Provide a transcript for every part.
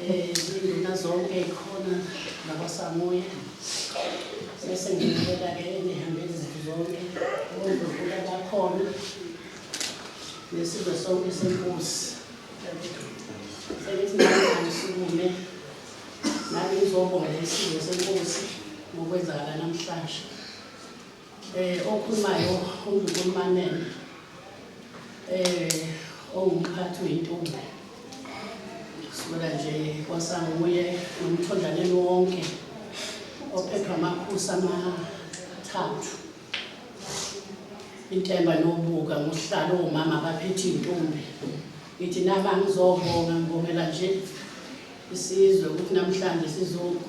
Induna zonke ikhona nakwaSamoya bese ngiyibeka ke enihambeli zethu zonke ondlukula bakhona nesizwe sonke senkosi sengithi nami sikume nami ngizobonga isizwe senkosi ngokwenzakala namhlanje Eh okhulumayo uNdunkulumanene eh ongumphathi wentombi sibona nje kwasanguye nomthondaneni wonke ophethwa amakhosi amathathu intemba nobuka ngohlalo omama abaphethe intombi ngithi naba ngizobonga ngibongela nje isizwe ukuthi namhlanje sizoku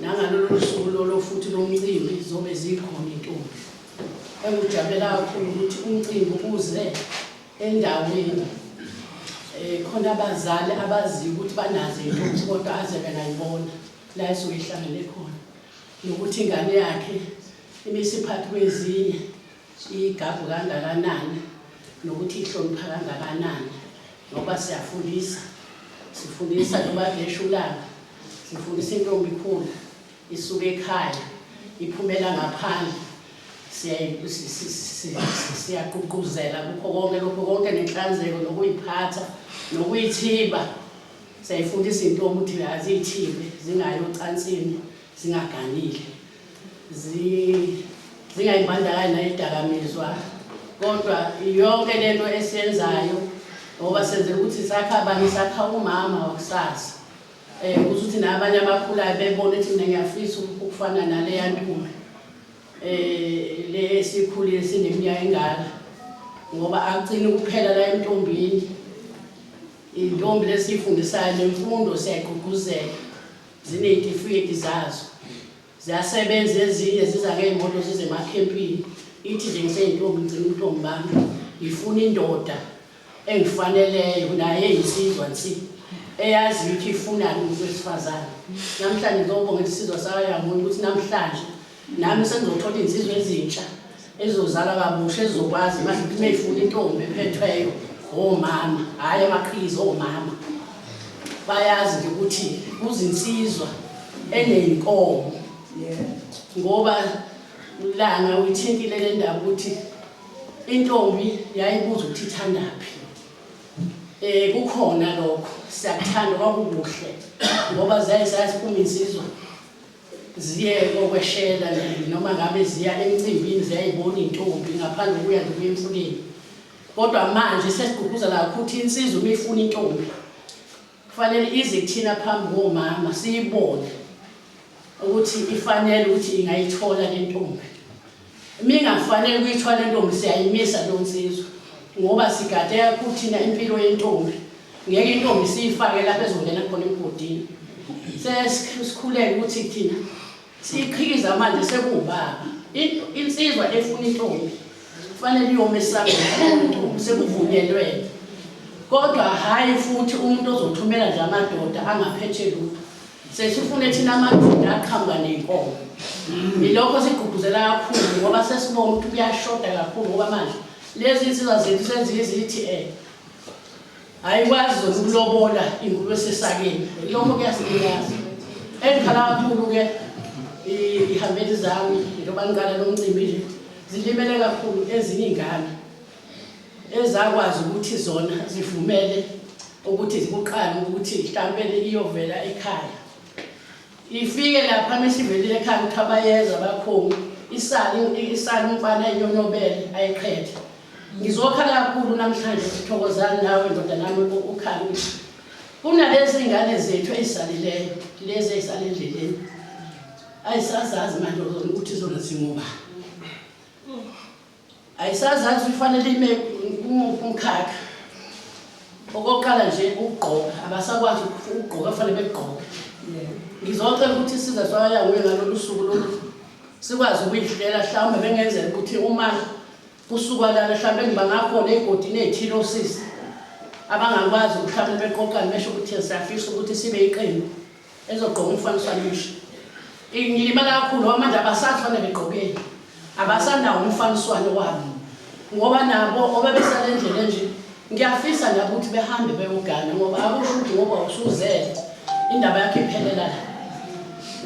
Nangalolu suku lolo futhi lomcimbi zobe zikhona intombi engujabulela kakhulu ukuthi umcimbi uze endaweni eh, khona abazali abaziyo ukuthi banazo intombi kodwa aze bengayibona la esuke ihlangene khona nokuthi ingane yakhe imisiphathi kwezinye igagu kangakanani nokuthi ihlonipha kangakanani ngoba siyafundisa sifundisa noba ngeshulanga sifundisa intombi ikhulu isuke ekhaya iphumela ngaphandle siyaqhuquzela kukho konke lokho konke nenhlanzeko nokuyiphatha nokuyithiba siyayifundisa intombi ukuthi aziyithibe zingayi ocansini zingaganile zingayibandakanyi nayidakamizwa kodwa yonke lento esiyenzayo ngoba senzela ukuthi sakha abanye sakha umama wakusasa um eh, ukuthi ukuthi nabanye abakhulayo bebone ukuthi mina ngiyafisa ukufana naleya ntume eh le sikhulile sineminyaka engaka ngoba akucini kuphela la entombini intombi lesifundisayo nemfundo siyagqugquzela Zineyitifiketi zazo. Ziyasebenza ezinye ziza ngeyimoto zize emakhempini. Ithi nje ngiseyintombi ngicela ubuntombi bami. Ngifuna indoda engifaneleyo naye eyisizwa nsi. Eyaziyo ukuthi ifunani umuntu wesifazane. Namhlanje ngizobonga isizwa sakayangoni ukuthi namhlanje nami sengizothola izinsizwa ezintsha ezizozala kabusha ezizokwazi manje ukuthi uma ifuna intombi ephethweyo omama hhayi amaqhizi omama bayazi nje ukuthi kuzinsizwa eneyinkomo ngoba lana uyithintile le ndaba ukuthi intombi yayibuza ukuthi ithandaphi eh kukhona lokho siyakuthanda kwakukuhle ngoba ziyaye sayazi uma insizwa ziye kokweshela nje noma ngabe ziya emcimbini ziyayibona intombi ngaphandle kuya nje kuya emfuleni kodwa manje sesigqugquzela kakhulu ukuthi insizwa uma ifuna intombi kufanele ize kuthina phambi komama siyibone ukuthi ifanele ukuthi ingayithola le ntombi Mingafanele kuyithwala intombi siyayimisa leyo nsizwa ngoba sigade kakhulu thina impilo yentombi ngeke intombi siyifake lapho ezongena khona emgodini sesikhuleke ukuthi thina siyiqhikiza manje sekuwubaba insizwa efuna intombi kufanele iyome esangeni sekuvunyelwene kodwa hhayi futhi umuntu ozothumela nje amadoda angaphethe lutho Sesifune thina amadoda aqhamuka nenkomo. Yilokho sigqugquzela kakhulu ngoba sesibona ukuthi kuyashoda kakhulu ngoba manje lezi insizwa zethu senziye izithi eh ayikwazi zona ukulobola ingulube esesakeni. Yilokho kuyasilimaza. Engikhala kakhulu-ke i- ihambeli zami njengoba ngiqala lo mcimbi nje zilimele kakhulu ezinye iy'ngane. ezakwazi ukuthi zona zivumele ukuthi zikuqale ukuthi mhlawumbe iyovela ekhaya ifike lapha mesivelile ekhaya ukuthi abayeza bakhulu isali isali umfana iyonobele ayiqhethe ngizokha kakhulu namhlanje sithokozani nawe ndoda nami ukhala ukuthi kunalezi ngane zethu ezisalileyo lezi ezisale endleleni ayisazazi manje ukuthi zona zingubani Ayisazazi ifanele ime kumuphi umkhakha. Okokuqala nje ukugqoka, abasakwazi ukugqoka fanele begqoke. Ngizocela ukuthi isiza sayawe ngalolu suku lolu sikwazi ukuyihlela mhlawumbe bengenzela ukuthi uma kusuka lana mhlawumbe ngibangakhona ey'godini ey'thile osisi abangakwazi mhlawumbe beqoqane besho ukuthi siyafisa ukuthi sibe iqembu ezogqoka umfaniswano omusha ngilimala kakhulu ngoba manje abasafane begqokeni abasanawo umfaniswano wabo ngoba nabo obebesale ndlela enje ngiyafisa nabo ukuthi behambe beyogana ngoba akusho ukuthi ngoba usuzele indaba yakhe iphelela la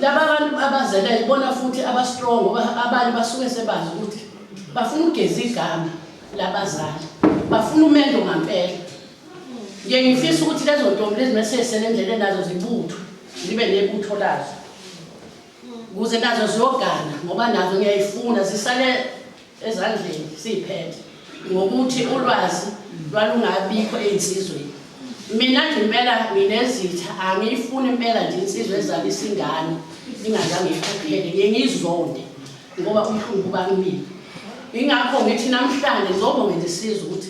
laba abantu abazele ibona futhi abastrong ngoba abanye basuke sebazi ukuthi bafuna ukugeza igama labazali bafuna umendo ngampela Ngiye ngifisa ukuthi lezo ntombi lezi mesesele endleleni nazo zibuthwe zibe nebutho lazo kuze nazo ziyogana ngoba nazo ngiyayifuna zisale ezandleni siyiphethe ngokuthi ulwazi lwalungabikho ey'nsizweni mina nje impela nginezitha angiyifuni impela nje insizwa ezalisa ingane ingazange ikhokhele ngiye ngiyizonde ngoba umhlungu ubamile ingakho ngithi namhlanje ngizobongela isizwe ukuthi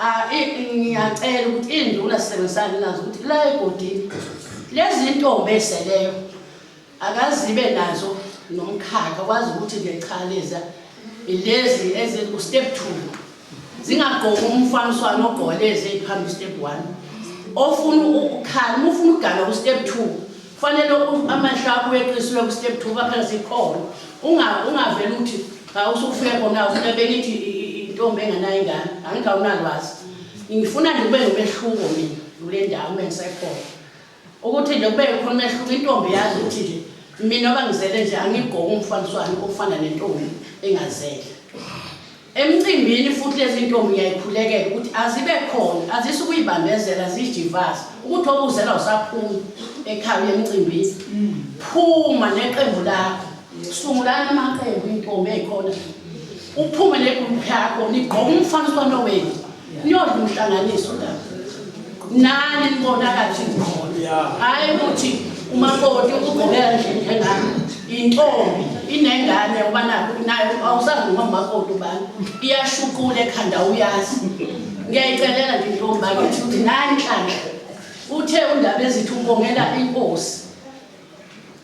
Ah, i- ngiyacela ukuthi iy'nduna sisebenzisane nazo ukuthi la egodini lezi ntombi eziseleyo akazibe nazo nomkhakha kwazi ukuthi nje cha leza ilezi eziku-step two zingagqoki umfaniswano ogqoke lezi ey'phambi step one ofuna ukukhala uma ufuna ukugana ku-step two Kufanele amehlo akho uyeqiswe ku-step two kwaphela sikhona ungavele uthi usufike kona ufuna bengithi intombi engenayo ingane angithi awunalwazi ngifuna nje kube nomehluko mina kule ndawo ube ngisekhona ukuthi nje kube khona umehluko intombi yazi ukuthi nje mina oba ngizele nje angigqoke umfaniswano ofana nentombi engazele Emcimbini futhi lezi ntombi ngiyayikhulekela ukuthi azibe khona, azise ukuyibambezela zijivaze ukuthi obuzela usaphuma ekhaya uye emcimbini. Phuma neqembu lakho. Sungulani amaqembu intombi eyikhona. Uphume negroup yakho nigqoke umfaniswano wenu. Niyodla umhlanganiso la. Nani nibona kathi ngibona. Hayi ukuthi umakoti ugqokela nje njengami. Intombi inengane uba nakho nayo awusazi noma umakoti ubani. Iyashuqula ekhanda uyazi. Ngiyayicelela nje intombi bakithi ukuthi nani nhlanhla. Uthe undaba ezithi ubongela inkosi.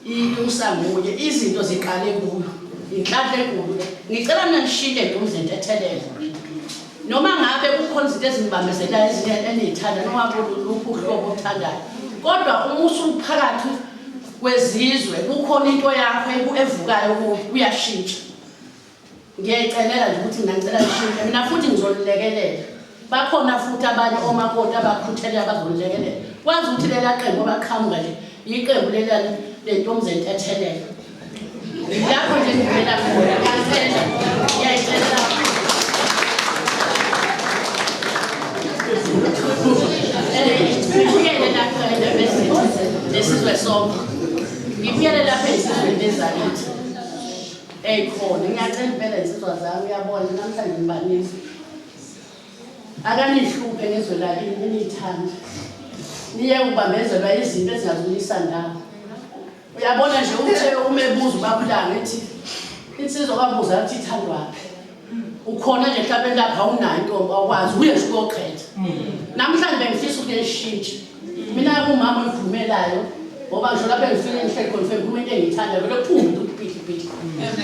inusa nguye izinto ziqale kuyo inhlanhla enkulu le ngicela mina ngishintshe nje umzento ethelele noma ngabe kukhona izinto ezinibambezelayo ezinye eniyithanda noma kuluphi uhlobo othandayo kodwa uma usuphakathi kwezizwe kukhona into yakho evukayo uyashintsha Ngiyayicemela nje ukuthi mina ngicela lishintshe mina futhi ngizolilekelela. Bakhona futhi abanye omakoti abakhuthelele abazolilekelela. Kwazi ukuthi lela qembu abaqhamuka nje yiqembu lela lentombizeni ethelele. Lapho nje ngivela khona ngiyacela ngiyayicela lapho. Ngibuyele lapho endabezini nesizwe sonke. Ngibuyele lapho ezizweni ezakithi. Ey khona ngiyacela impela insizwa zami uyabona namhlanje ngibanisa. Akanihluphe ngezwe lakini ninithanda. Niye ubambezelwa izinto ezingazuyisa ndawo. Uyabona nje uthe umebuza ubabulanga ethi insizwa kwabuza ukuthi ithandwaphi. ukhona nje mhlawumbe lapha awunayo intombi awukwazi uye nje uyoqhetha namhlanje bengifisa ukuthi ngishintshe mina kumama oyivumelayo ngoba ngisho lapho engifike ngihleli khona ufike ngikhuluma into engiyithandayo vele kuphume into kuphihliphihli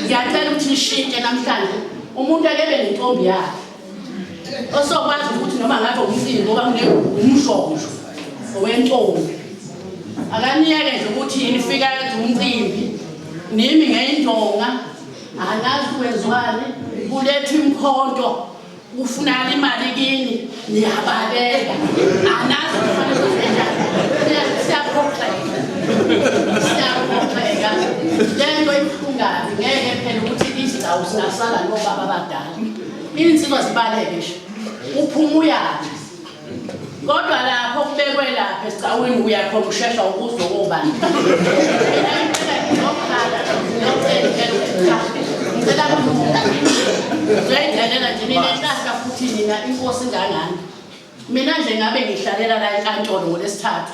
ngiyacela ukuthi nishintshe namhlanje umuntu akebe nentombi yakhe osokwazi ukuthi noma ngabe umsini ngoba umshosho owentombi akaniyeke nje ukuthi nifika umcimbi nimi ngeyindonga Angazi wezwani kuletha imkhonto ufunani imali kini niyabaleka. Anazi kufanele kwenzenjani. Siyaphoxeka. Siyaphoxeka. Lento ibuhlungazi ngeke phela ukuthi izindawo singasala nobaba abadala. Insizwa zibaleke nje. Uphuma uyaphi. kodwa lapho kubekwe lapha esicawini uyakhona ukushesha ukuzwa kobani zoyidlalela nje mina nhlahla futhi nina inkosi ngangani mina nje ngabe ngihlalela la enkantolo ngolesithathu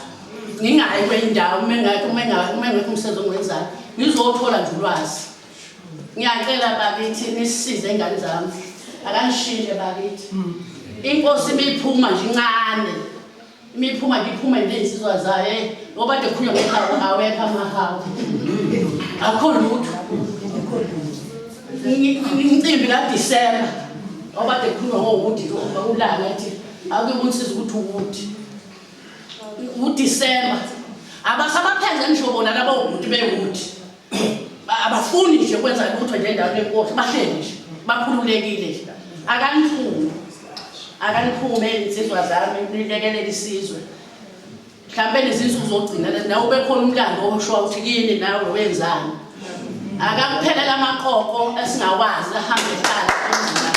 ngingayi kwenye indawo uma ngingekho umsebenzi ongiwenzayo ngizowuthola nje ulwazi ngiyacela bakithi nisize ingane zami akangishintshe bakithi inkosi imiphuma nje incane imiphuma nje iphume ngezinsizwa zayo eh, ngoba de khulunywa ngehawu awekho amahawu akho lutho imicimbi kadisemba ngoba de khulunywa ngowudi ulanga ethi akuyokunsiza ukuthi ukuthi udisemba abasabaphenze ngisho bona labo ukuthi bewuthi abafuni nje kwenza lutho nje endaweni yenkosi bahleli nje bakhululekile nje akaniphume akaniphume insizwa zami nilekelele isizwe mhlawumbe nezinsuku zogcina nawe ubekhona umlando osho ukuthi kini nawe wenzani akakuphelela amaqoqo esingawazi ahambe ehlala emzini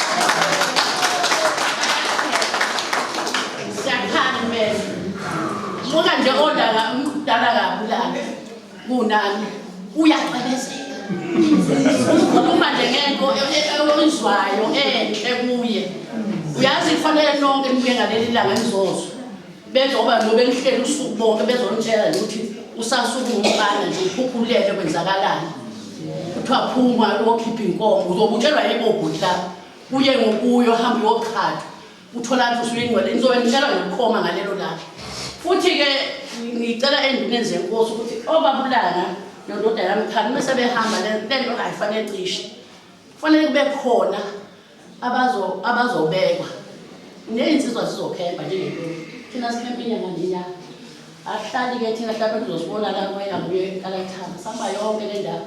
siyakhani mele buka nje odala umdala kabulala kunami uyacebezela ukhuluma nje ngento oyizwayo enhle kuye uyazi kufanele nonke nibuye ngaleli langa nizozwa bezoba nobe nihlele usuku bonke bezonitshela ukuthi usasuke umfana nje ukhukhulele kwenzakalani kuthiwa phuma uyokhipha inkomo uzobutshelwa yibobhuti lapho uye ngokuyo hambe uyoqhatha utholani futhi uyingcwele ngizobe ngitshela nokukhoma ngalelo langa futhi-ke ngicela enduneni zenkosi ukuthi obabulana nondoda yami khani uma sebehamba le nto ayifanele cishe kufanele kube khona abazobekwa neyinsizwa zizokhemba njengentoni thina sikhempa inyanga nenyanga ahlali-ke thina hlapha kuzosibona la kwena nguye kalathanga sihamba yonke le ndawo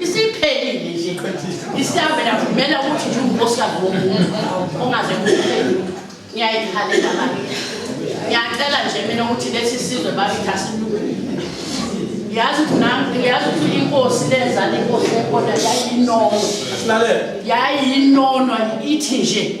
isiphelile nje isihambe navumela ukuthi nje unkosikazi womuntu ongaze kuphele ngiyayikhalela manje ngiyacela nje mina ukuthi lesi sizwe bafitha silungu yazi ukuthi nami yazi ukuthi inkosi lezala inkosi enkona yayinono yayinono ithi nje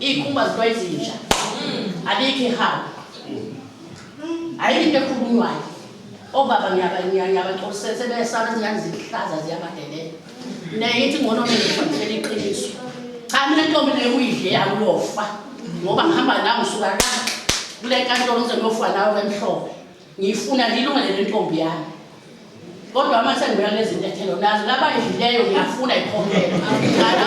Iy'khumba zilwa izinja. Abikho ihaba. Ayikho into ekhulunywayo. Obaba ngiyaba- ngiya- ngiyabaxolisela sebesana izingane zihlaza ziyabadelela. Naye ithi ngcono mina ngifundisele iqiniso. Cha mina ntombi le uyidle yami uyofa. Ngoba ngihamba nawe ngisuka la kule nkantolo ngize ngiyofa nawe emhlophe. Ngiyifuna ngilungele le ntombi yami. Kodwa uma sengibona lezi zintathelo nazo labayidlileyo ngiyafuna ikhokhela.